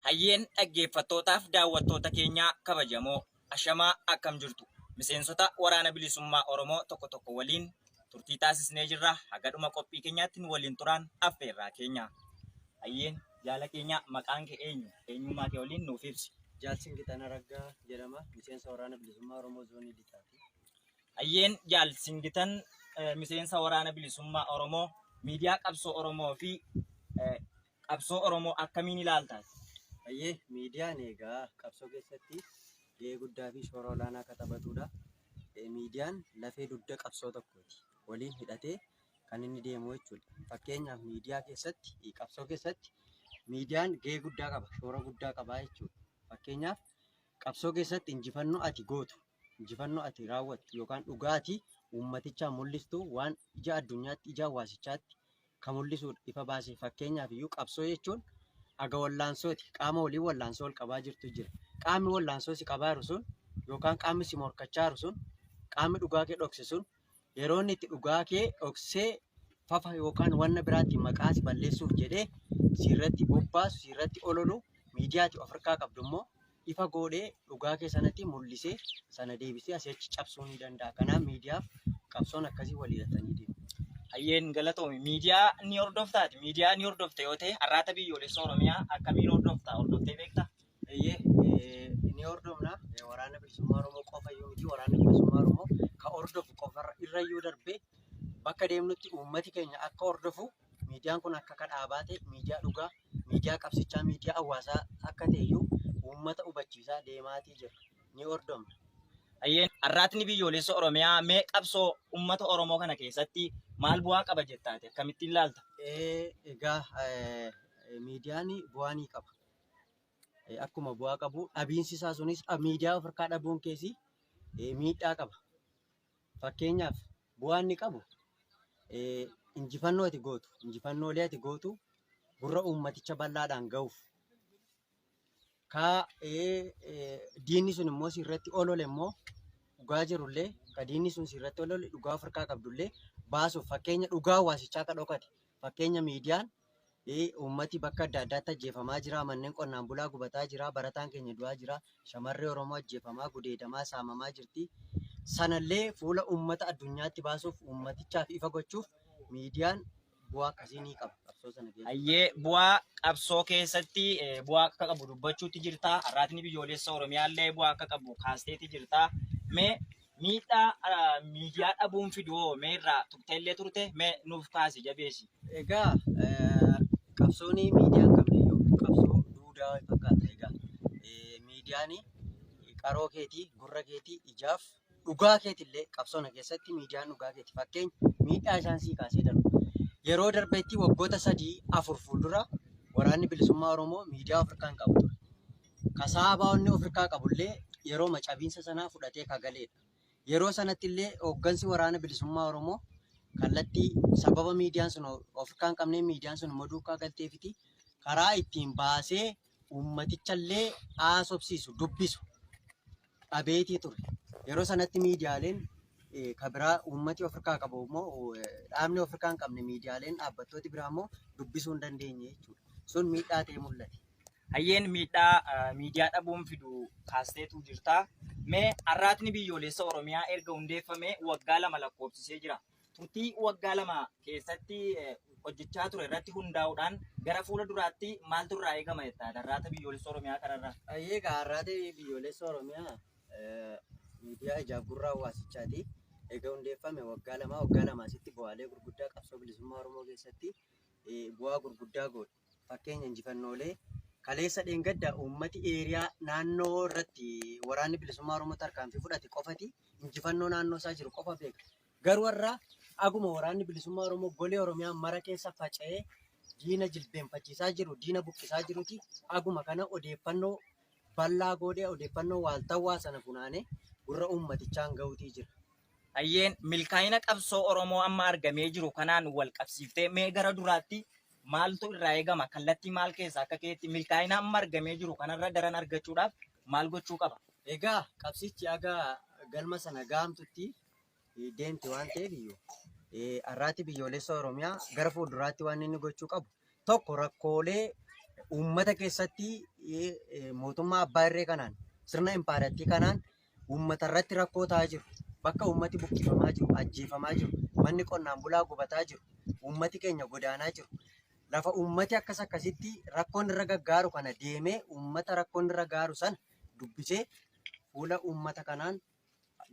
Hayyeen dhaggeeffattootaaf daawwattoota keenyaa kabajamoo ashamaa akkam jirtu miseensota waraana bilisummaa Oromoo tokko tokko waliin turtii taasisnee jirra hagadhuma qophii keenyaatti nu waliin turaan affeerraa keenya. Hayyeen jaala keenyaa maqaan kee eenyu eenyummaa kee waliin nuuf ibsi. Jaalsin Gitana Raggaa jedhama miseensa waraana bilisummaa Oromoo zoonii lixaati. Hayyeen jaalsin gitan miseensa waraana bilisummaa Oromoo miidiyaa qabsoo Oromoo fi Qabsoo Oromoo akkamiin ilaalta ati? Hayyee, miidiyaan egaa qabsoo keessatti gahee guddaa fi shoora olaanaa akka taphatudha. Miidiyaan lafee dugda qabsoo tokkooti. Waliin hidhatee kan inni deemu jechuudha. Fakkeenyaaf miidiyaa keessatti, qabsoo keessatti miidiyaan gahee guddaa qaba, shoora guddaa qaba jechuudha. Fakkeenyaaf qabsoo keessatti injifannoo ati gootu, injifannoo ati raawwattu yookaan dhugaa ati uummatichaan mul'istu waan ija addunyaatti, ija hawaasichaatti ka mul'isuudha, ifa baasee. Fakkeenyaaf iyyuu qabsoo jechuun aga wallaansooti. Qaama waliin wallaansoo wal qabaa jirtu jira. Qaamni wallaansoo si qabaa jiru sun yookaan qaamni si morkachaa jiru sun, qaamni dhugaa kee dhokse sun yeroo inni itti dhugaa kee dhoksee fafa yookaan wanna biraatiin maqaa si balleessuuf jedhee si irratti bobbaasu, si irratti ololu, miidiyaati of harkaa qabdu immoo ifa goodhee dhugaa kee sanatti mul'isee sana deebisee asii achi cabsuu ni danda'a. Kanaaf miidiyaaf qabsoon akkasii waliigatanii deemu. Hayyeen galatoomi. Miidiyaa ni hordoftaati. Miidiyaa ni hordofta yoo ta'e har'aata biyyoolessa Oromiyaa akkamiin hordofta? Hordoftee beekta? Eeyyee eh, ni hordofna Eh, waraana bilisummaa Oromoo qofa iyyuu miti waraana bilisummaa Oromoo ka hordofu qofa irra iyyuu darbee bakka deemnutti uummati keenya akka hordofu Miidiyaan kun akka akka dhaabaa ta'e, miidiyaa dhugaa, miidiyaa qabsichaa, miidiyaa hawaasaa akka ta'e iyyuu uummata hubachiisaa deemaatii jira. Ni hordofna. Hayyeen arraatni biyyoolessa Oromiyaa mee qabsoo uummata Oromoo kana keessatti maal bu'aa qaba jettaati? Akkamittiin ilaalta? Egaa miidiyaan bu'aa ni qaba. Akkuma bu'aa qabu dhabiinsi isaa sunis miidiyaa of harkaa dhabuun keessi miidhaa qaba. Fakkeenyaaf bu'aa inni qabu injifannoo ati gootu, injifannoolee ati gootu gurra uummaticha bal'aadhaan gahuuf, diinni sun immoo si irratti olole immoo dhugaa jiru illee, kan diinni sun si irratti olole dhugaa of harkaa qabdu illee baasuuf fakkeenya dhugaa hawaasichaa akka dhokate, Fakkeenya miidiyaan uummati bakka adda addaatti ajjeefamaa jira, manneen qonnaan bulaa gubataa jira, barataan keenya du'aa jira, shamarri Oromoo ajjeefamaa, gudeedamaa, saamamaa jirti. Sanallee fuula uummata addunyaatti baasuuf, uummatichaaf ifa gochuuf miidiyaan bu'aa akkasii ni qaba qabsoo sana keessatti. Hayyee bu'aa qabsoo keessatti eh, bu'aa akka qabu dubbachuutti jirta. Arraatni biyyoolessa Oromiyaallee bu'aa akka qabu kaasteetti jirta. Mee Miidhaa miidiyaa dhabuun fidu hoo mee irraa tuqxeellee turte mee nuuf kaasi jabeessi. Egaa qabsoon miidiyaan qabneyyuu qabsoo duudaa wayii fakkaata. Egaa miidiyaan qaroo keetii, gurra keetii, ijaaf dhugaa keetillee qabsoona keessatti miidiyaan dhugaa keeti. Fakkeenya miidhaa isaan sii kaasee darbu. Yeroo darbeetti waggoota sadii afur fuuldura waraanni bilisummaa Oromoo miidiyaa of harkaa hin qabu ture. ka saabaa onnee ofirkaa qabullee yerooma cabiinsa sanaa fudhatee ka galeedha. Yeroo sanattillee hooggansi waraana bilisummaa Oromoo kallattii sababa miidiyaan sun ofirkaa hin qabnee miidiyaan sun immoo duukaa galteefiti karaa ittiin baasee uummatichallee haasofsiisu dubbisu dhabeetii ture. Yeroo sanatti miidiyaaleen eh, ka biraa uummati ofirkaa qabu immoo eh, dhaabni ofirkaa hin qabne miidiyaaleen dhaabbattooti biraa immoo dubbisuu hin dandeenye jechuudha. Sun miidhaa ta'ee mul'ate. Hayyeen miidhaa miidiyaa dhabuun fidu kaasteetu jirta. Mee arraatni biyyoolessa Oromiyaa erga hundeeffamee waggaa lama lakkoofsisee jira. Turtii waggaa lama keessatti hojjechaa ture irratti hundaa'uudhaan gara fuula duraatti maaltu irraa eegama jettaa arraata biyyoolessa Oromiyaa kanarraa? Hayyee egaa arraata biyyoolessa Oromiyaa miidiyaa ijaaf gurra hawaasichaati. Egaa hundeeffame waggaa lama waggaa lama asitti bu'aalee gurguddaa qabsoo bilisummaa Oromoo keessatti bu'aa gurguddaa goone. Fakkeenya injifannoolee kaleessa dheengadda uummati eeriyaa naannoo irratti waraanni bilisummaa Oromoo tarkaanfii fudhate qofati injifannoo naannoo isaa jiru qofa beeka. Garuu har'a aguma waraanni bilisummaa Oromoo golee Oromiyaa mara keessa faca'ee diina jilbeenfachiisaa jiru, diina buqqisaa jiruti aguma kana odeeffannoo bal'aa goodhee odeeffannoo waaltawwaa sana funaanee gurra uummatichaan ga'uutii jira. Hayyeen, milkaa'ina qabsoo Oromoo amma argamee jiru kanaan walqabsiiftee mee gara duraatti maaltu irraa eegama? Kallattii maal keessaa akka keetti milkaa'ina amma argamee jiru kanarra daran argachuudhaaf maal gochuu qaba? Egaa qabsichi haga galma sana gahamtutti deemti waan ta'eef har'aatti biyyoolessa Oromiyaa gara fuulduraatti waan inni gochuu qabu tokko rakkoolee uummata keessatti mootummaa abbaa irree kanaan sirna impaarattii kanaan uummatarratti rakkoo ta'aa jiru, bakka uummati buqqifamaa jiru, ajjeefamaa jiru, manni qonnaan bulaa gubataa jiru, uummati keenya godaanaa jiru, lafa uummati akkas akkasitti rakkoon irra gaggaaru kana deemee uummata rakkoon irra gaaru sana dubbisee fuula uummata kanaan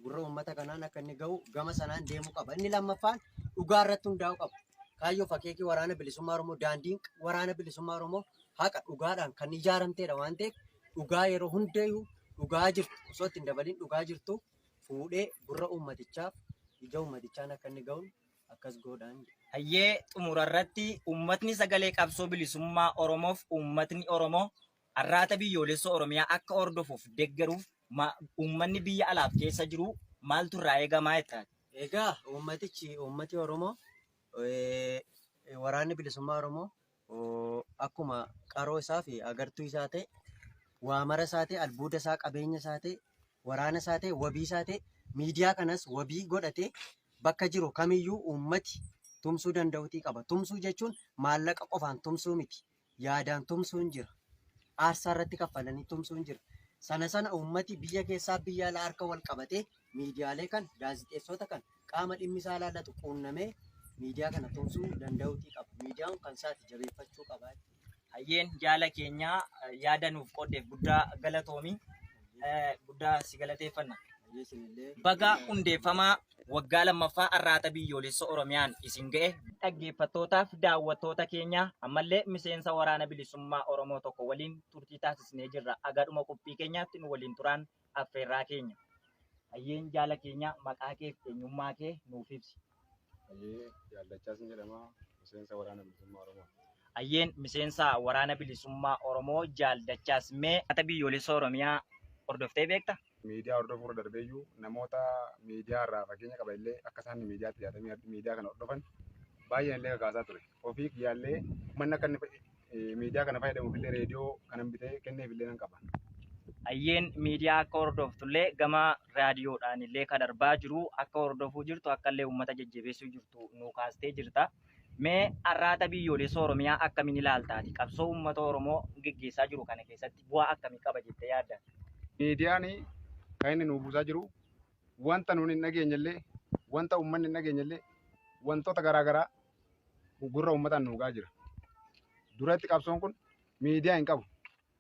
gurra uummata kanaan akka inni ga'u gama sanaan deemuu qaba. Inni lammaffaan dhugaa irratti hundaa'uu qaba. Kaayyoo fakeekii waraana bilisummaa Oromoo daandiin waraana bilisummaa Oromoo haqa dhugaadhaan kan ijaaramteedha waan ta'eef dhugaa yeroo hundayyuu dhugaa jirtu osoo itti hin dabaliin dhugaa jirtu fuudhee gurra uummatichaaf ija uummatichaan akka inni ga'uun akkas goodhaan jedha. Hayyee xumura irratti uummatni sagalee qabsoo bilisummaa Oromoof uummatni Oromoo arraata biyyoolessa Oromiyaa akka hordofuuf deggeruuf ma- uummanni biyya alaaf keessa jiru maaltu irraa eegamaa jettaan? Egaa uummatichi uummati Oromoo eh, waraanni bilisummaa Oromoo akkuma qaroo isaa fi agartuu isaa ta'e, waamara isaa ta'e, albuuda isaa, qabeenya isaa ta'e, waraana isaa ta'e, wabii isaa ta'e, miidiyaa kanas wabii godhatee bakka jiru kamiyyuu uummati tumsuu danda'utii qaba. Tumsuu jechuun maallaqa qofaan tumsuu miti. Yaadaan tumsuun jira. Aarsaa irratti kaffalanii tumsuun jira. Sana sana uummati biyya keessaa biyya alaa harka wal qabatee miidiyaalee kana, gaazixeessoota kana, qaama dhimmi isaa ilaallatu quunnamee miidiyaa kana tumsuu danda'uutii qaba. Miidiyaan kun kan isaati jabeeffachuu qaba jechuudha. Hayyeen jaala keenya yaada nuuf qooddeef guddaa galatoomi. Eh, Guddaa si galateeffanna. Hayyee isinillee Baga hundeeffamaa waggaa lammaffaa arraata biyyoolessa Oromiyaan isin ga'e. Dhaggeeffattootaaf daawwattoota keenya ammallee miseensa waraana bilisummaa Oromoo tokko waliin turtii taasisnee jirra. Agadhuma qophii keenyaatti nu waliin turaan affeerraa keenya. Hayyeen jaala keenyaa maqaa kee fi eenyummaa kee nuuf ibsi. Hayyee Jaallachaa sin jedhama miseensa waraana bilisummaa Oromoo. Hayyeen miseensa waraana bilisummaa Oromoo Jaal Dachaas mee mata biyyoolessa Oromiyaa hordoftee beekta? Miidiyaa hordofuu irra darbeeyyuu namoota miidiyaa irraa fakkeenya qaba illee akka isaan miidiyaatti yaadamee miidiyaa kana hordofan baay'een illee kakaasaa ture. Ofii kiyyaallee uummanni akka inni miidiyaa kana fayyadamuuf illee reediyoo kanan bitee kenneef illee nan qaba. Ayyeen miidiyaa akka hordoftullee gama raadiyoodhaan illee kan darbaa jiru akka hordofuu jirtu akka illee uummata jajjabeessuu jirtu nuu kaastee jirta. Mee arraata biyyoolessa Oromiyaa akkamiin ilaaltaati? Qabsoo uummata Oromoo geggeessaa jiru kana keessatti bu'aa akkamii qaba jettee yaadda? Miidiyaan kan inni nuu buusaa jiru wanta nuun hin dhageenye illee wanta uummanni hin dhageenye illee wantoota garaa garaa gurra uummataan nuugaa jira. Duratti qabsoon kun miidiyaa hin qabu.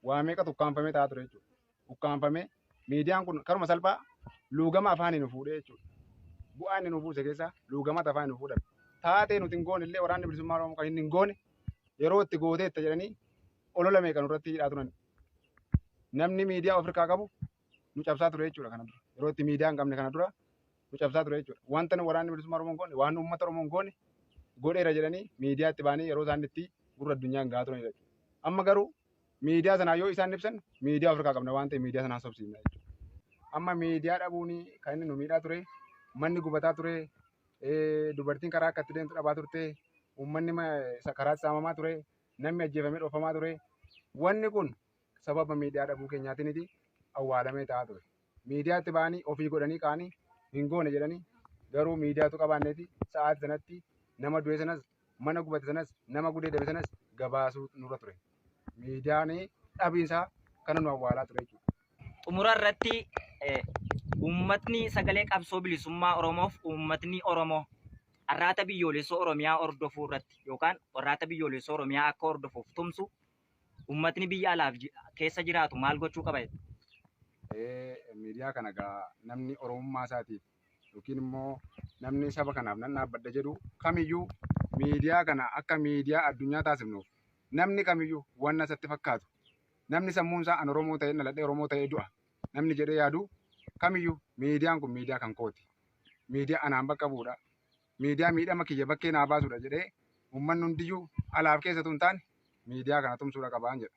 Waa meeqa ukkaanfamee taa'aa ture jechuudha. Ukkaanfamee miidiyaan kun karuma salphaa luugama afaanii nu fuudhee jechuudha. Bu'aa inni nu buuse keessaa luugamata afaanii nu fuudhan. Taatee nuti hin goone illee waraanni bilisummaa Oromoo kan inni hin goone yeroo itti gooteetta jedhanii olola meeqa nurratti hidhaa turan. Namni miidiyaa ofirkaa qabu nu cabsaa ture jechuudha kana dura. Yeroo itti miidiyaa hin qabne kana dura nu cabsaa ture jechuudha. Wanta nu waraanni bilisummaa Oromoo hin goone, waan uummata Oromoo hin goone godheera jedhanii miidiyaatti baanii yeroo isaan itti gurra addunyaa hin gahaa turanidha jechuudha. Amma garuu miidiyaa sanaa yoo isaan ibsan miidiyaa ofirraa qabna waan ta'eef miidiyaa sanaa sobsiifna jechuudha. Amma miidiyaa dhabuun kan inni nu miidhaa ture, manni gubataa ture, eh, dubartiin karaa akka itti deemtu dhabaa turte, uummanni ma- sa- karaatti saamamaa ture, namni ajjeefamee dhoofamaa ture. Wanni kun sababa miidiyaa dhabuu keenyaatiniti awwaalamee ta'aa ture. Miidiyaatti ba'anii ofii godhanii ka'anii hin goone jedhanii garuu miidiyaatu qabaanneeti sa'aati sanatti nama du'e sanas mana gubate sanas nama gudeedame sanas gabaasuu nurra ture. Miidiyaan dhabiinsaa kana nu awwaalaa ture jechuudha. Xumura irratti eh, uummatni sagalee qabsoo bilisummaa Oromoof uummatni Oromoo arraata biyyoolessoo Oromiyaa hordofuu irratti yookaan arraata biyyoolessoo Oromiyaa akka hordofuuf tumsu Ummatni biyya alaaf ji- keessa jiraatu maal gochuu qaba jettu? Ee, miidiyaa kana egaa namni oromummaa isaatiif yookiin immoo namni saba kanaaf nan dhaabbadha jedhu kamiyyuu miidiyaa kana akka miidiyaa addunyaa taasifnuuf namni kamiyyuu wanna isatti fakkaatu namni sammuun isaa an oromoo ta'ee dhaladhee oromoo ta'ee du'a namni jedhee yaadu kamiyyuu miidiyaan kun miidiyaa kan kooti miidiyaa anaan bakka bu'udha Miidiyaa miidhama kiyya bakkee naa baasudha jedhee uummanni hundiyyuu alaaf keessa utuu hin taane miidiyaa kana tumsuudha qabaan jedha.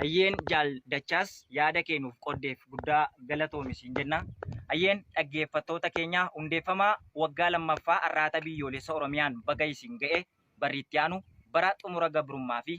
Hayyeen Jaal Dachaas yaada kee nuuf qoddeef guddaa galatoomi siin jenna. Hayyeen dhaggeeffattoota keenya hundeeffama waggaa lammaffaa Arraata Biyyoolessa Oromiyaan baga isin ga'e barri itti aanu bara xumura gabrummaa fi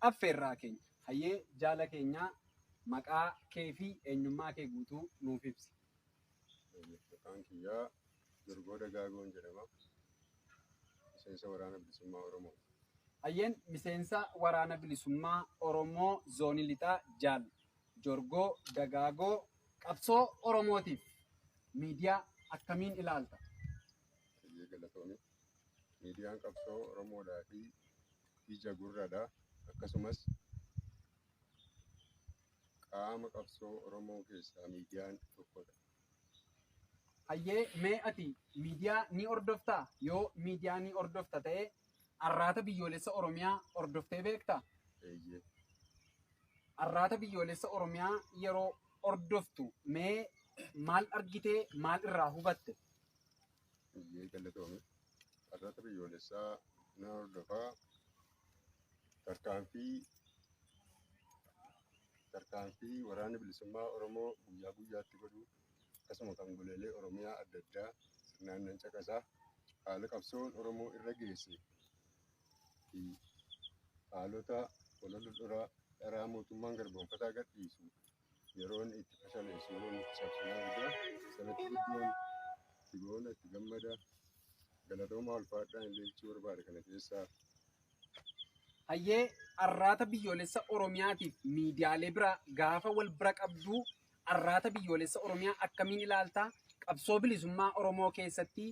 affeerraa keenya. Hayyee jaala keenyaa maqaa kee fi eenyummaa kee guutuu nuuf ibsi. Maqaan kiyyaa Durgoo Dagaagoon jedhama. Miseensa Waraana Bilisummaa Oromooti. Hayyeen miseensa Waraana Bilisummaa Oromoo Zoonii Lixaa Jaal Jorgoo Dagaagoo qabsoo Oromootiif miidiyaa akkamiin ilaalta? Hayyee galatoomi. Miidiyaan qabsoo Oromoodhaa fi ija gurradha. Akkasumas qaama qabsoo Oromoo keessaa miidiyaan tokkodha. Hayyee mee ati miidiyaa ni hordoftaa? Yoo miidiyaa ni hordofta ta'e arraata biyyoolessa Oromiyaa hordoftee beektaa? Eeyyee. Arraata biyyoolessa Oromiyaa yeroo hordoftu mee maal argitee maal irraa hubatte? Eeyyee galatoomi. Carraaqii biyyoolessaa nan hordofa. Tarkaanfii tarkaanfii waraanni bilisummaa Oromoo guyyaa guyyaatti godhu akkasuma kan goleelee Oromiyaa adda addaa sirnaan nan caqasa. Haala qabsoon Oromoo irra geesse fi haalota walola dhora dharaa mootummaan garboomfataa gadhiisu yeroon itti fashaleessu yeroon itti cabsinaa argaa sanatti guddoon itti boona itti gammada galatoomaa ulfaadhaa illee jechuu barbaada kana keessaa. Hayyee arraata biyyoolessa Oromiyaatiif miidiyaalee biraa gaafa wal bira qabduu arraata biyyoolessa Oromiyaa akkamiin ilaaltaa? Qabsoo bilisummaa Oromoo keessatti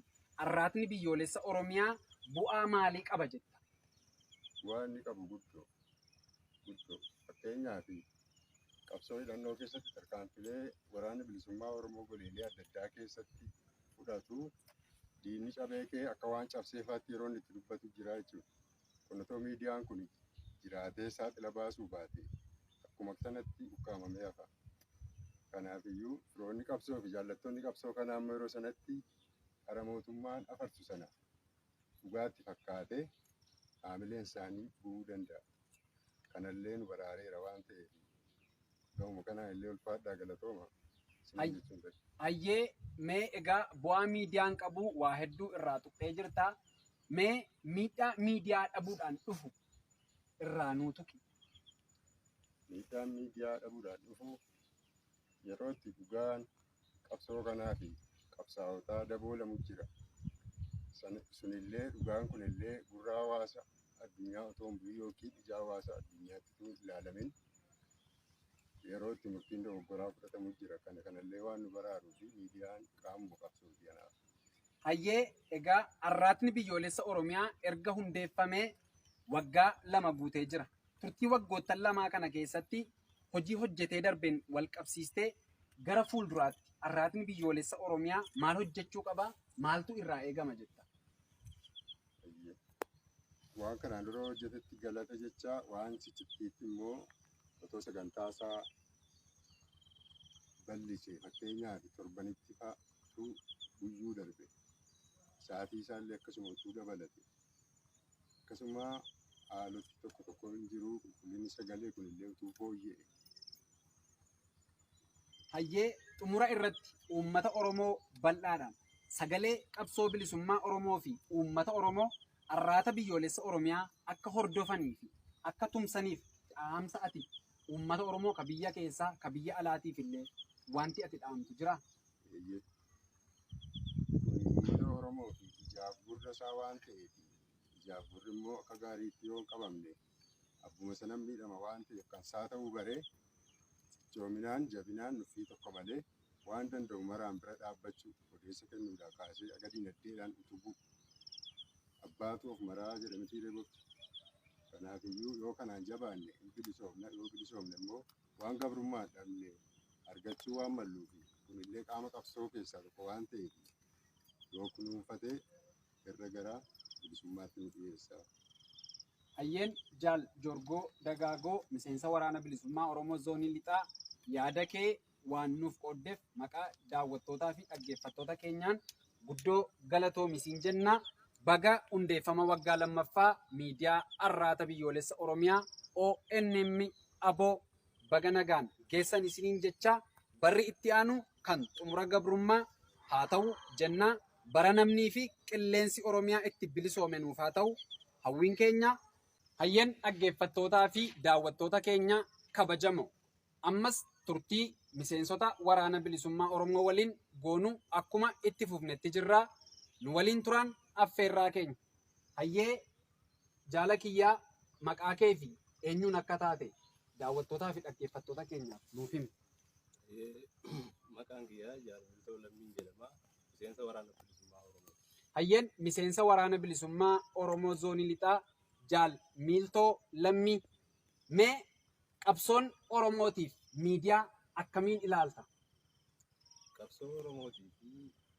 arraatni biyyoolessa Oromiyaa bu'aa maalii qaba jetta? Bu'aa inni qabu guddoo guddoo fakkeenyaaf Qabsoo hidhannoo keessatti tarkaanfilee Waraanni Bilisummaa Oromoo goleelee adda addaa keessatti fudhatu diinni cabee kee akka waan cabsee faatti yeroo inni itti dubbatu jira jechuudha. Kun otoo miidiyaan kun jiraatee saaxila baasuu baatee akkuma sanatti ukkaamamee hafa. Kanaafiyyuu firoonni qabsoo fi jaallattoonni qabsoo kanaa immoo yeroo sanatti dhara mootummaan afarsu sana dhugaatti fakkaatee haamileen isaanii bu'uu danda'a. Kanallee nu baraareera waan ta'eef gahuma kanaan illee ulfaadhaa galatooma. Ay- Hayyee mee egaa bu'aa miidiyaan qabu waa hedduu irraa tuqxee jirta. Mee miidhaa miidiyaa dhabuudhaan dhufu irraa nuu tuqi. Miidhaan miidiyaa dhabuudhaan dhufu yeroo itti dhugaan qabsoo kanaa fi qabsaa'otaa daboolamu jira. Sunillee dhugaan kunillee gurra hawaasa addunyaa otoo hin bu'in yookiin ija hawaasa addunyaatti utuu hin ilaalamin yeroo itti murtiin dogoggoraa fudhatamu jira. Kana kanallee waan nu baraaruu fi miidiyaan qaamuma qabsooti kanaaf. Hayyee egaa Arraatni Biyyoolessa Oromiyaa erga hundeeffamee waggaa lama guutee jira. turtii waggoottan lamaa kana keessatti hojii hojjetee darbeen wal qabsiistee gara fuulduraatti arraatni biyyoolessa Oromiyaa maal hojjechuu qaba? Maaltu irraa eegama jetta? Waan kanaan dura hojjetetti galata jecha waan ciccittiitti immoo otoo sagantaa isaa bal'ise fakkeenyaaf torbanitti fa'aatu guyyuu darbe sa'aatii isaallee akkasuma utuu dabalate Akkasuma haaloti tokko tokko hin jiru qulqullinni sagalee kun illee utuu fooyya'e. Hayyee xumura irratti uummata Oromoo bal'aadhaan sagalee qabsoo bilisummaa Oromoo fi uummata Oromoo arraata biyyoolessa Oromiyaa akka hordofanii fi akka tumsaniif dhaamsa ati uummata Oromoo ka biyya keessaa ka biyya alaatiif illee wanti ati dhaamtu jira. Uummata Oromoof ijaaf gurra isaa waan ta'eef ijaaf gurri immoo akka gaariitti yoo hin qabamne abbuma sanan miidhama waan ta'eef kan isaa ta'uu baree cichoominaan jabinaan nuffii tokko malee waan danda'u maraan bira dhaabbachuu odeessa kennuudhaa kaasee aga dinagdeedhaan utubuu abbaatu of maraa jedhamitii reebofti. Kanaafiyyuu yoo kanaan jabaanne hin bilisoomna yoo bilisoomne immoo waan gabrummaan dhabne argachuu waan malluufi kunillee qaama qabsoo keessaa tokko waan ta'eef yoo kunuunfate irra gara bilisummaatti nu dhiyeessa. Hayyeen Jaal Jorgoo Dagaagoo miseensa waraana bilisummaa Oromoo zoonii lixaa yaada kee waan nuuf qooddeef maqaa daawwattootaa fi dhaggeeffattoota keenyaan Guddoo galatoomi siin jenna. Baga hundeeffama waggaa lammaffaa miidiyaa Arraata Biyyoolessa Oromiyaa ONM abo baga nagaan geessan isiniin jecha barri itti aanu kan xumura gabrummaa haa ta'u jenna. Bara namnii fi qilleensi Oromiyaa itti bilisoome nuuf haa ta'u hawwiin keenya. Hayyeen dhaggeeffattootaa fi daawwattoota keenya kabajamoo Ammas turtii miseensota Waraana Bilisummaa Oromoo waliin goonu akkuma itti fufnetti jirra. Nu waliin turaan affeerraa keenya. Hayyee jaala kiyyaa maqaa kee fi eenyuun akka taate daawwattootaa fi dhaggeeffattoota keenyaaf nuuf himi. Maqaan kiyyaa Jaallatoo Lammiin jedhama. Miseensa Waraana Bilisummaa Oromoo. Hayyeen miseensa Waraana Bilisummaa Oromoo Zoonii Lixaa Jaal Miiltoo Lammii Mee qabsoon Oromootiif miidiyaa akkamiin ilaalta? Qabsoo Oromootii fi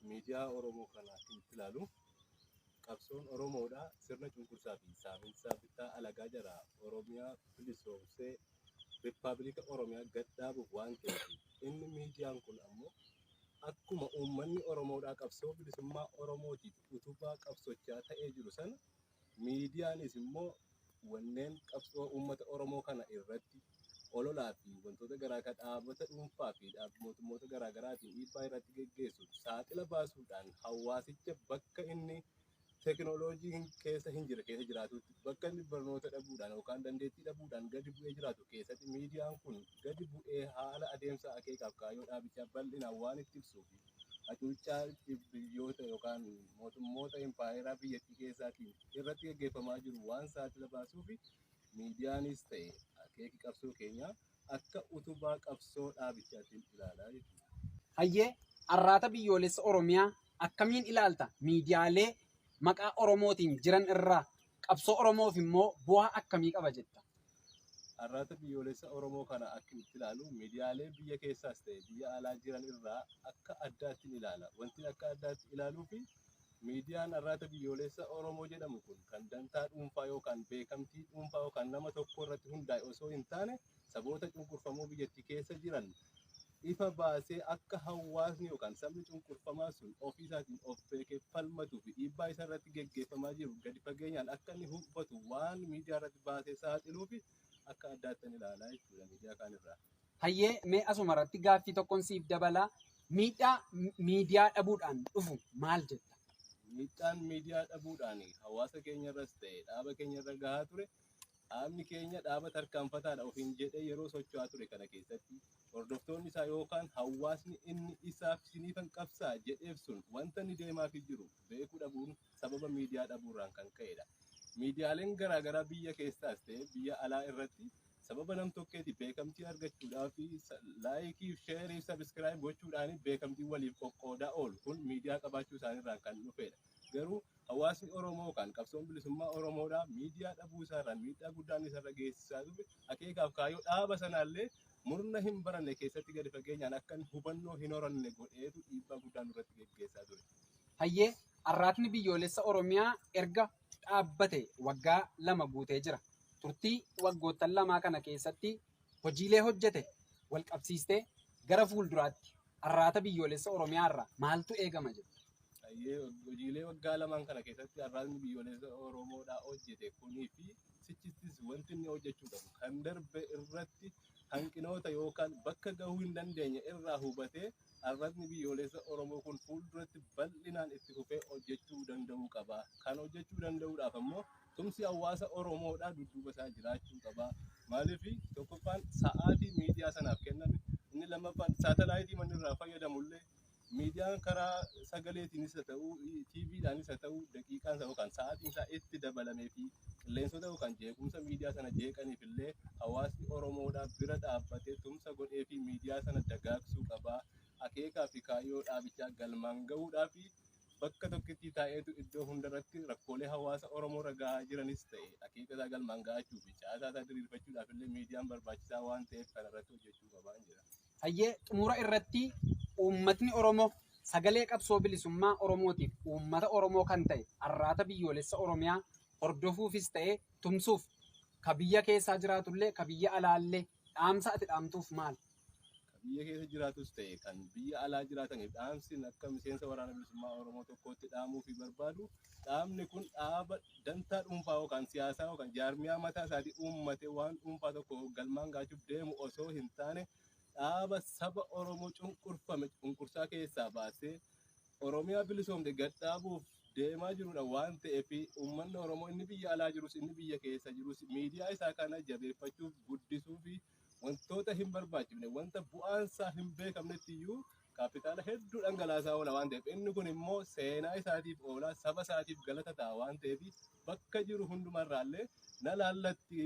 miidiyaa Oromoo kana akkamitti ilaalu? Qabsoon Oromoodha sirna cunqursaa fi saaminsaa bittaa alagaa jalaa Oromiyaa bilisoomsee Rippaabilika Oromiyaa gad dhaabuuf waan ta'eef inni miidiyaan kun ammoo akkuma uummanni Oromoodhaa qabsoo bilisummaa Oromootiif utubaa qabsochaa ta'ee jiru sana Miidiyaanis immoo wanneen qabsoo uummata Oromoo kana irratti ololaa fi wantoota garaa garaa dhaabota dhuunfaa fi mootummoota garaa garaatiin dhiibbaa irratti geggeessu saaxila baasuudhaan hawaasicha bakka inni tekinooloojiin keessa hin jirre keessa jiraatutti bakka inni barnoota dhabuudhaan yookaan dandeettii dhabuudhaan gadi bu'ee jiraatu keessatti miidiyaan kun gadi bu'ee haala adeemsa akeekaaf kaayyoo dhaabichaa bal'inaan waan itti ibsuu fi hacuuccaa biyyoota yookaan mootummoota impaayeraa biyyattii keessaatiin irratti gaggeeffamaa jiru waan saaxila baasuuf miidiyaanis ta'e akeeki qabsoo keenyaa akka utubaa qabsoo dhaabichaan ilaalaa jechuudha. Hayyee arraata biyyoolessa Oromiyaa akkamiin ilaalta? Miidiyaalee maqaa Oromootiin jiran irraa Qabsoo Oromoof immoo bu'aa akkamii qaba jetta? Arraata biyyoolessa Oromoo kana akkin itti ilaalu miidiyaalee biyya keessaas ta'e biyya alaa jiran irraa akka addaattin ilaala. Wantin akka addaatti ilaaluufi miidiyaan arraata biyyoolessa Oromoo jedhamu kun kan dantaa dhuunfaa yookaan beekamtii dhuunfaa yookaan nama tokko irratti hundaa'e osoo hin taane saboota cunqurfamoo biyyattii keessa jiran ifa baasee akka hawaasni yookaan sabni cunqurfamaa sun ofii isaatiin of beekee falmatuu fi dhiibbaa isa irratti geggeeffamaa jiru gadi fageenyaan akka inni hubatu waan miidiyaa irratti baasee saaxiluu fi akka addaattan ilaalaa jechuudha miidiyaa kaan irraa. Hayyee mee asuma irratti gaaffii tokkoon siif dabala. Miidhaa mi- miidiyaa dhabuudhaan dhufu maal jetta? Miidhaan miidiyaa dhabuudhaan hawaasa keenya irras ta'e dhaaba keenya irra gahaa ture Dhaabni keenya dhaaba tarkaanfataadha ofiin jedhee yeroo socho'aa ture kana keessatti hordoftoonni isaa yookaan hawaasni inni isaaf isiniifan qabsaa jedheef sun wanta inni deemaafii jiru beekuu dhabuun sababa miidiyaa dhabuurraan kan ka'edha. Miidiyaaleen garaagaraa biyya keessaas ta'e biyya alaa irratti sababa namtokkeeti beekamtii argachuudhaa fi laayikii, sheerii, sabiskiraayib gochuudhaan beekamtii waliif qoqqoodaa oolu. Kun miidiyaa qabaachuu isaaniirraan kan dhufedha. Garuu hawaasni Oromoo yookaan qabsoon bilisummaa Oromoodhaa miidiyaa dhabuu isaarraan miidhaa guddaan isarra geessisaa ture. Akeekaaf kaayyoo dhaaba sanaallee murna hin baranne keessatti gadi fageenyaan akka hubannoo hin horanne godheetu dhiibbaa guddaa nurratti geggeessaa ture. Hayyee Arraatni Biyyoolessa Oromiyaa erga dhaabbate waggaa lama guutee jira. Turtii waggoottan lamaa kana keessatti hojiilee hojjete walqabsiistee gara fuulduraatti Arraata Biyyoolessa Oromiyaa irraa maaltu eegama jedhu? Baay'ee hojiilee waggaa lamaan kana keessatti arraatni biyyoolessa Oromoodhaa hojjete kunii fi sichittis wanti inni hojjechuu qabu kan darbe irratti hanqinoota yookaan bakka gahuu hin dandeenye irraa hubatee Arrasni biyyoolessa Oromoo kun fuulduratti bal'inaan itti fufee hojjechuu danda'uu qaba. Kan hojjechuu danda'uudhaaf ammoo tumsi hawaasa Oromoodhaa dudduuba isaa jiraachuu qaba. Maaliif tokkoffaan sa'aatii miidiyaa sanaaf kenname inni lammaffaan saatalaayitii manni irraa fayyadamu illee miidiyaan karaa sagaleetiinis haa ta'uu, TVdhaanis haa ta'uu daqiiqaan isaa yookaan sa'aatiin isaa itti dabalamee fi qilleensota yookaan jeequmsa miidiyaa sana jeeqaniif illee hawaasni Oromoodhaa bira dhaabbatee tumsa godhee fi miidiyaa sana dagaagsuu qaba. Akeekaa fi kaayyoo dhaabichaa galmaan gahuudhaaf bakka tokkittii taa'eetu iddoo hundarratti rakkoolee hawaasa Oromoo irra gahaa jiranis ta'e akeeka isaa galmaan gahachuu fi caasaa isaa diriirfachuudhaaf illee miidiyaan barbaachisaa waan ta'eef kanarratti hojjechuu qabaan jedha. Hayyee xumura irratti uummatni Oromoo sagalee qabsoo bilisummaa Oromootiif uummata Oromoo kan ta'e arraata biyyoolessa Oromiyaa hordofuufis ta'e tumsuuf ka biyya keessaa jiraatullee ka biyya alaallee dhaamsa ati dhaamtuuf maali? Ka biyya keessa jiraatus ta'e kan biyya alaa jiraataniif dhaamsi akka miseensa waraana bilisummaa Oromoo tokkootti dhaamuu fi barbaadu Dhaabni kun dhaaba dantaa dhuunfaa yookaan siyaasaa yookaan jaarmiyaa mataa isaatii uummate waan dhuunfaa tokko galmaan gaachuuf deemu osoo hin taane dhaaba saba Oromoo cunqurfame cunqursaa keessaa baasee Oromiyaa bilisoomte gad dhaabuuf deemaa jirudha waan ta'eef uummanni Oromoo inni biyya alaa jirus inni biyya keessa jirus miidiyaa isaa kana jabeeffachuuf guddisuu fi wantoota hin barbaachifne wanta bu'aan isaa hin beekamnetti iyyuu kaapitaala hedduu dhangalaasaa oola waan ta'eef inni kun immoo seenaa isaatiif oolaa saba isaatiif galata ta'a waan ta'eef bakka jiru hundumarraallee na laallatti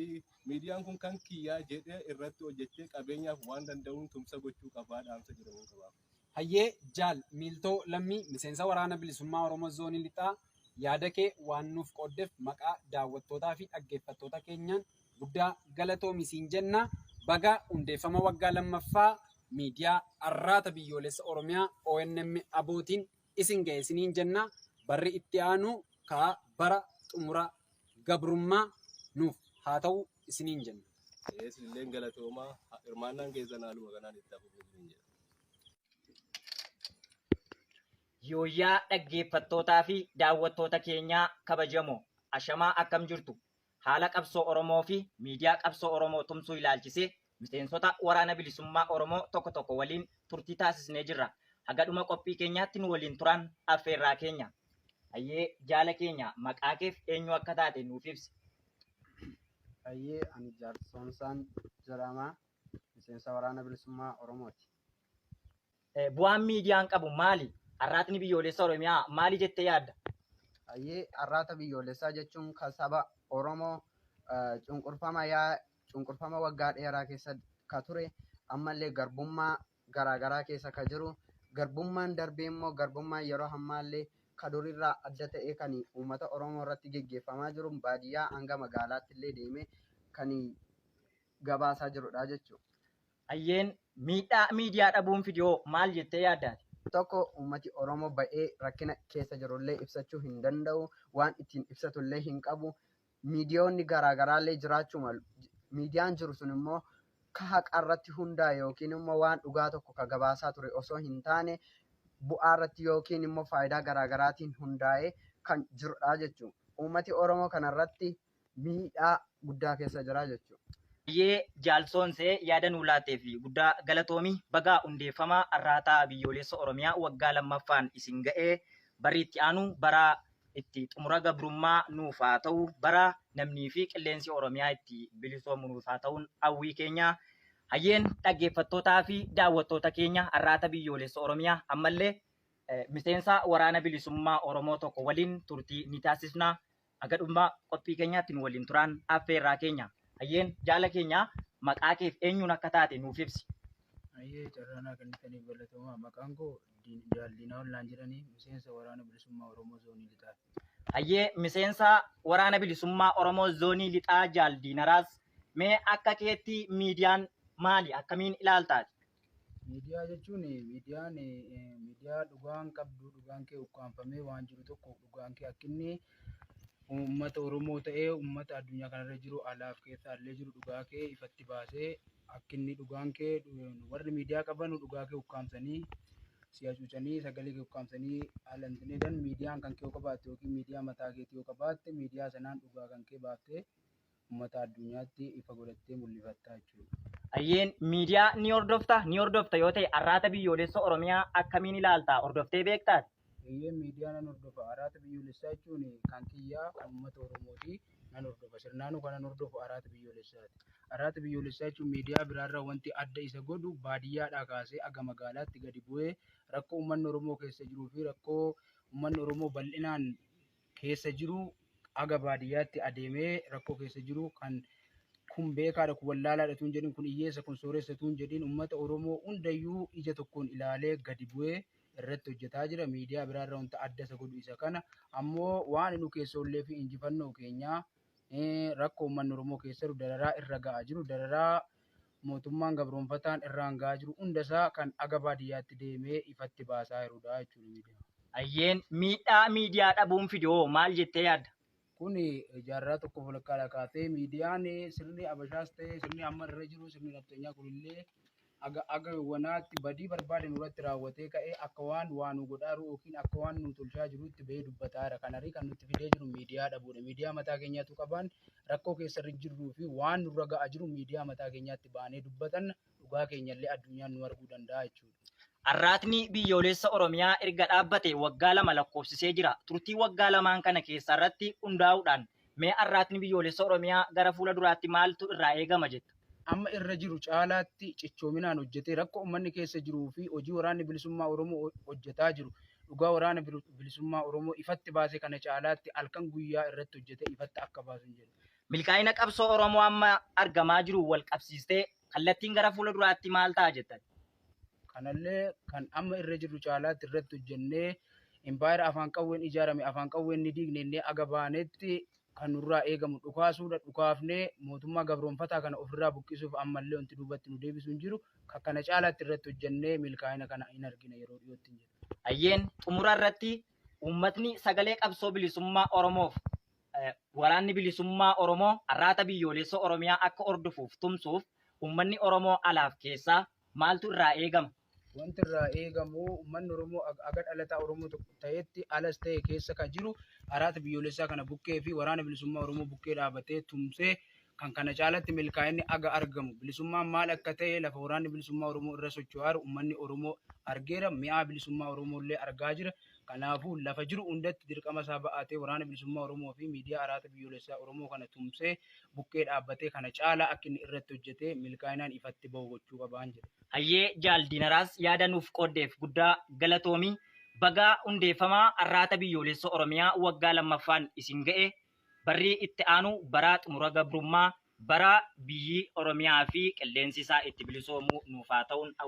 miidiyaan kun kan kiyyaa jedhee irratti hojjechee qabeenyaaf waan danda'uun tumsa gochuu qabaa dhaamsa jedhamuun qabaaf. Hayyee Jaal Miiltoo Lammii Miseensa Waraana Bilisummaa Oromoo Zoonii Lixaa yaada kee waan nuuf qooddef maqaa daawwattootaa fi dhaggeeffattoota keenyaan guddaa galatoomi siin jenna. Baga hundeeffama waggaa lammaffaa miidiyaa Arraata Biyyoolessa Oromiyaa ONM ABOtiin isin ga'e isiniin jenna. Barri itti aanu ka bara xumura gabrummaa nuuf haa ta'u isiniin jenna. Ee isinilleen galatoomaa. Ha- Hirmaannaan keessan haaluma kanaan itti haa fufu isiniin jedha. Yooyyaa dhaggeeffattootaa fi daawwattoota keenyaa kabajamoo ashamaa akkam jirtu Haala qabsoo Oromoo fi miidiyaa qabsoo Oromoo tumsuu ilaalchisee miseensota Waraana Bilisummaa Oromoo tokko tokko waliin turtii taasisnee jirra. Haga dhuma qophii keenyaatti nu waliin turaan affeerraa keenya. Hayyee jaala keenya maqaa keef eenyu akka taate nuuf ibsi. Hayyee ani Jaal Soomsaan jedhama. Miseensa Waraana Bilisummaa Oromooti. Bu'aan miidiyaan qabu maali? Arraatni biyyoolessa Oromiyaa maali jettee yaadda? Hayyee arraata biyyoolessaa jechuun kan saba Oromoo cunqurfama yaa cunqurfama waggaa dheeraa keessa ka ture ammallee garbummaa garaagaraa keessa ka jiru garbummaan darbee immoo garbummaan yeroo ammaallee ka durirraa adda ta'ee kan uummata Oromoo irratti geggeeffamaa jiru baadiyyaa hanga magaalaatti illee deemee kan gabaasaa jirudha jechuudha. Hayyeen miidhaa miidiyaa dhabuun fide hoo maal jettee yaadda ati? Tokko uummati Oromoo ba'ee rakkina keessa jirullee ibsachuu hin danda'u. Waan ittiin ibsatullee hin qabu. Miidiyoonni garaa garaallee jiraachuu malu. Miidiyaan jiru sun immoo ka haqarratti hundaa'e yookiin immoo waan dhugaa tokko ka gabaasaa ture osoo hin taane bu'aarratti yookiin immoo faayidaa garaa garaatiin hundaa'ee kan jirudha jechuudha. Uummati Oromoo kanarratti miidhaa guddaa keessa jira jechuudha. Baay'ee Jaal Soonsee yaada nuu laatteef guddaa galatoomi. Baga hundeeffama Arraataa Biyyooleessa Oromiyaa waggaa 2ffaan isin ga'e. Barri itti aanu bara itti xumura gabrummaa nuuf haa ta'u. Bara namnii fi qilleensi Oromiyaa itti bilisoomu nuuf haa ta'uun hawwii keenya. Hayyeen dhaggeeffattootaa fi daawwattoota keenya Arraata Biyyooleessa Oromiyaa ammallee miseensa Waraana Bilisummaa Oromoo tokko waliin turtii ni taasisna. Haga dhummaa qophii keenyaatti nu waliin turaan affeerraa keenya. Hayyeen jaala keenya maqaa keef eenyuun akka taate nuuf ibsi. Hayyee carraa naa kennitaniif galatoomaa. Maqaan koo Diin- Jaal Diinaa'ol naan jedhani. Miseensa Waraana Bilisummaa Oromoo Zoonii Lixaati. Hayyee miseensa waraana bilisummaa Oromoo zoonii lixaa jaal Diinaraas mee akka keetti miidiyaan maali akkamiin ilaaltaati? Miidiyaa jechuun miidiyaan miidiyaa dhugaan qabdu dhugaan kee ukkaamfamee waan jiru tokko dhugaan kee akka inni uummata Oromoo ta'ee uummata addunyaa kanarra jiru alaaf keessa illee jiru dhugaa kee ifatti baasee akka inni dhugaan kee warri miidiyaa qaban dhugaa kee ukkaamsanii si hacuucanii sagalee kee ukkaamsanii haala hin taneedhaan miidiyaan kan kee yoo qabaatte yookiin miidiyaa mataa keetii yoo qabaatte miidiyaa sanaan dhugaa kan kee baaftee ummata addunyaatti ifa godhattee mul'ifatta jechuudha. Hayyeen miidiyaa ni hordofta? Ni hordofta yoo ta'e arraata biyyoolessa Oromiyaa akkamiin ilaalta? Hordoftee beektaati? Hayyeen miidiyaa nan hordofa. Arraata biyyoolessaa jechuun kan kiyyaa kan uummata Oromooti. Nan hordofa. Sirnaanuu kanan hordofu arraata biyyoolessaati. Arraata biyyoolessaa jechuun miidiyaa biraarraa wanti adda isa godhu baadiyyaadhaa kaasee aga magaalaatti gadi bu'ee rakkoo uummanni Oromoo keessa jiruu fi rakkoo uummanni Oromoo bal'inaan keessa jiru haga baadiyyaatti adeemee rakkoo keessa jiru kan kun beekaadha kun wallaalaadha tuun jedhin kun hiyyeessa kun sooressa tuun jedhin ummata Oromoo hundayyuu ija tokkoon ilaalee gadi bu'ee irratti hojjetaa jira miidiyaa biraa irra wanta adda isa godhu isa kana ammoo waan nu keessoollee fi injifannoo keenyaa rakkoo ummanni Oromoo keessa jiru dararaa irra ga'a jiru dararaa mootummaan gabroonfataan irraan gahaa jiru hunda isaa kan aga baadiyyaatti deemee ifatti baasaa jirudha jechuudha miidiyaan. Hayyeen, miidhaa miidiyaa dhabuun fide hoo maal jettee yaadda? Kun jaarraa tokkoof walakkaadhaa kaasee miidiyaan sirni Habashaas ta'e sirni amma irra jiru sirni nafxanyaa kunillee aga aga wanaatti badii barbaade nurratti raawwatee ka'ee akka waan waa nu godhaa jiru yookiin akka waan nu tolchaa jiruutti bahee dubbataa jira. Kanarii kan nutti fidee jiru miidiyaa dhabuudha. Miidiyaa mataa keenyaatu qabaan rakkoo keessa irra jirruu fi waan nurra ga'aa jiru miidiyaa mataa keenyaatti baanee dubbatanna dhugaa keenyallee addunyaan nu arguu danda'a jechuudha. Arraatni biyyoolessa Oromiyaa erga dhaabbate waggaa lama lakkoofsisee jira. Turtii waggaa lamaan kana keessaa irratti hundaa'uudhaan mee arraatni biyyoolessa Oromiyaa gara fuula duraatti maaltu irraa eegama jetta? amma irra jiru caalaatti cichoominaan hojjetee rakkoo ummanni keessa jiruu fi hojii waraanni bilisummaa Oromoo hojjetaa jiru dhugaa waraana bilisummaa Oromoo ifatti baase kana caalaatti halkan guyyaa irratti hojjetee ifatti akka baasun jedhu. Milkaa'ina qabsoo Oromoo amma argamaa jiru wal qabsiistee kallattiin gara fuula duraatti maal ta'a jettan? Kanallee kan amma irra jirru caalaatti irratti hojjennee impaayera afaan qawween ijaarame afaan qawween ni diignennee aga baanetti kan nurraa eegamu dhukaasuudha. Dhukaafnee mootummaa gabroomfataa kana ofirraa buqqisuuf ammallee wanti duubatti nu deebisu hin jiru. Kan kana caalaatti irratti hojjennee milkaa'ina kana hin argina yeroo dhiyoottin jedha. Hayyeen xumura irratti uummatni sagalee qabsoo bilisummaa Oromoof waraanni bilisummaa Oromoo arraata biyyooleessa Oromiyaa akka hordofuuf tumsuuf uummanni Oromoo alaaf keessaa Maaltu irraa eegama? Wanti irraa eegamu uummanni Oromoo aga dhalataa Oromoo tokko ta'etti alas ta'e keessa kan jiru araata biyyoolessaa kana bukkee fi waraana bilisummaa Oromoo bukkee dhaabatee tumsee kan kana caalatti milkaa'inni aga argamu bilisummaan maal akka ta'e lafa waraanni bilisummaa Oromoo irra socho'aaru uummanni Oromoo argeera mi'aa bilisummaa Oromoo illee argaa jira Kanaafuu, lafa jiru hundatti dirqama isaa ba'atee Waraana Bilisummaa Oromoo fi Miidiyaa Araaxa Biyyoolessaa Oromoo kana tumsee bukkee dhaabbatee kana caalaa akka inni irratti hojjetee milkaa'inaan ifatti bahu gochuu qabaan jedha. Hayyee Jaal Diinaraas yaada nuuf qooddeef guddaa galatoomi. Baga hundeeffama Arraata Biyyoolessa Oromiyaa waggaa 2ffaan isin ga'e. Barri itti aanu bara xumura gabrummaa, bara biyyi Oromiyaa fi qilleensi isaa itti bilisoomu nuuf haa ta'uun hawwina.